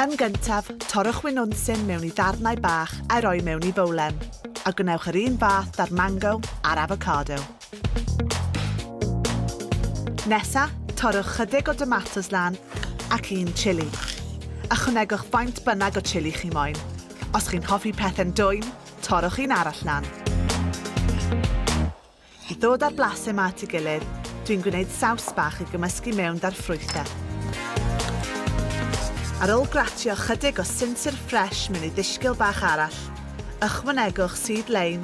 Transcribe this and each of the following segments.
Yn gyntaf, torrwch winwnsyn mewn i ddarnau bach a'i roi mewn i bowlen, a gwnewch yr un fath da'r mango a'r avocado. Nesa, torrwch chydig o domatos lan ac un chili. Ychwanegwch faint bynnag o chili chi moyn. Os chi'n hoffi pethau'n dwym, torrwch un arall lan. I ddod â'r blasau 'ma at ei gilydd, dwi'n gwneud saws bach i gymysgu mewn 'da'r ffrwythau. Ar ôl gratio ychydig o sinsir ffresh mewn i ddishgil bach arall, ychwanegwch sudd leim,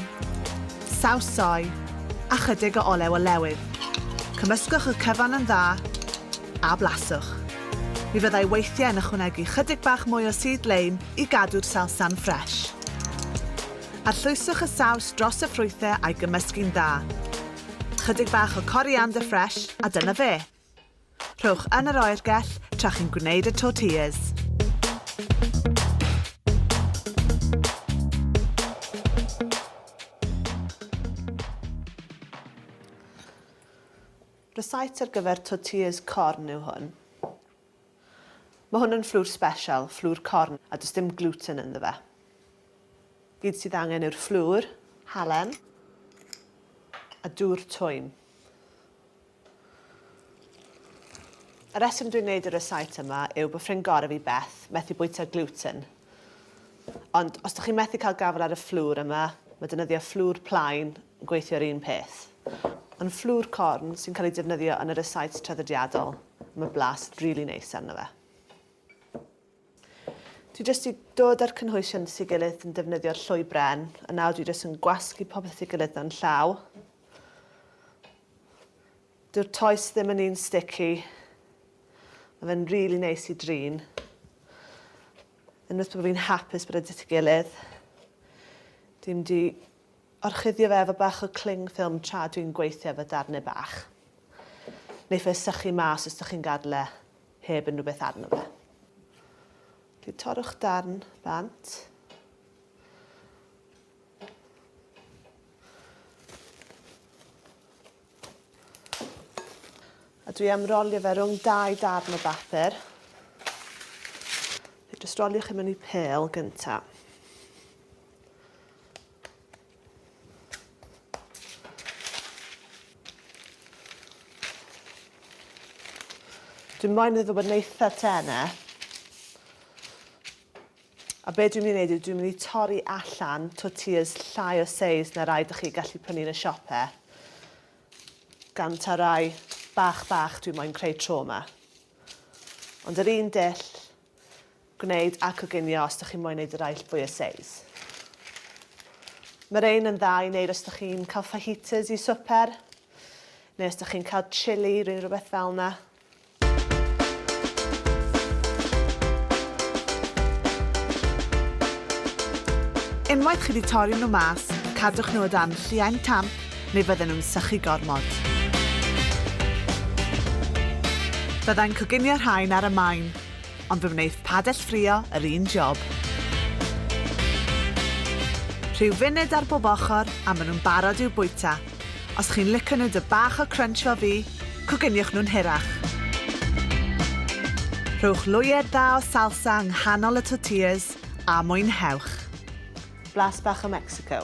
saws soy, a chydig o olew olewydd. Cymysgwch y cyfan yn dda, a blaswch. Mi fyddai weithiau yn ychwanegu chydig bach mwy o sudd leim i gadw'r salsa'n ffresh. Arllwyswch y saws dros y ffrwythau a'i gymysgu'n dda. Chydig bach o coriander fresh a dyna fe! Rhowch yn yr oergell tra chi'n gwneud y tortillas. Recipe ar gyfer tortillas corn yw hwn. Mae hwn yn fflwr sbeshal, fflwr corn, a does dim gluten ynddo fe. Gyd sydd angen yw'r fflwr, halen, a dŵr twym. Y reswm dwi'n gwneud y resaet yma yw bod ffrind gorau fi, Beth, methu bwyta gluten. Ond os dych chi'n methu cael gafael ar y fflwr yma, mae defnyddio fflwr plaen yn gweithio'r un peth. Ond fflwr corn sy'n cael ei defnyddio yn yr y-sites traddodiadol, mae blas rili really neis arno fe. Dwi jyst i dod â'r cynhwysion at ei gilydd yn defnyddio'r llwy bren, a nawr dwi jyst yn gwasgu popeth at ei gilydd mewn llaw. Dyw'r toes ddim yn un sticky. Mae fe'n rili neis i drin. Unwaith bod fi'n hapus bod e dyti gilydd. Dwi'n di orchuddio fe efo bach o cling ffilm tra dwi'n gweithio efo darnau bach. Neu fe sychu mas os ydych chi'n gadael e heb unrhyw beth arno fe. Dwi'n torrwch darn bant. A dwi am rolio fe rhwng dau darn o bapur. Fe jyst rolio chi mewn i pel gynta. Dwi'n moyn iddo bod yn eitha tene. A be dwi'n mynd i wneud yw dwi'n mynd i torri allan tortillas llai o seis na rai dych chi gallu prynu yn y siope. Gan ta rai bach bach dwi'n moyn creu tro yma. Ond yr un dull gwneud a coginio os dych chi'n moyn wneud y rai fwy o seis. Mae'r ein yn dda i wneud os dych chi'n cael fajitas i swper, neu os dych chi'n cael chili, rhywbeth fel yna. Unwaith chi wedi torri nhw mas, cadwch nhw o dan lliain tamp neu fydden nhw'n sychu gormod. Byddai'n coginio rhain ar y maen, ond fe wneith padell ffrio yr un job. Rhyw funud ar bob ochr a maen nhw'n barod i'w bwyta. Os chi'n lico nhw dy bach o crunch fel fi, cogyniwch nhw'n hirach. Rhowch lwyed dda o salsa yng nghanol y tortillas a mwynhewch! Blas bach o Mexico.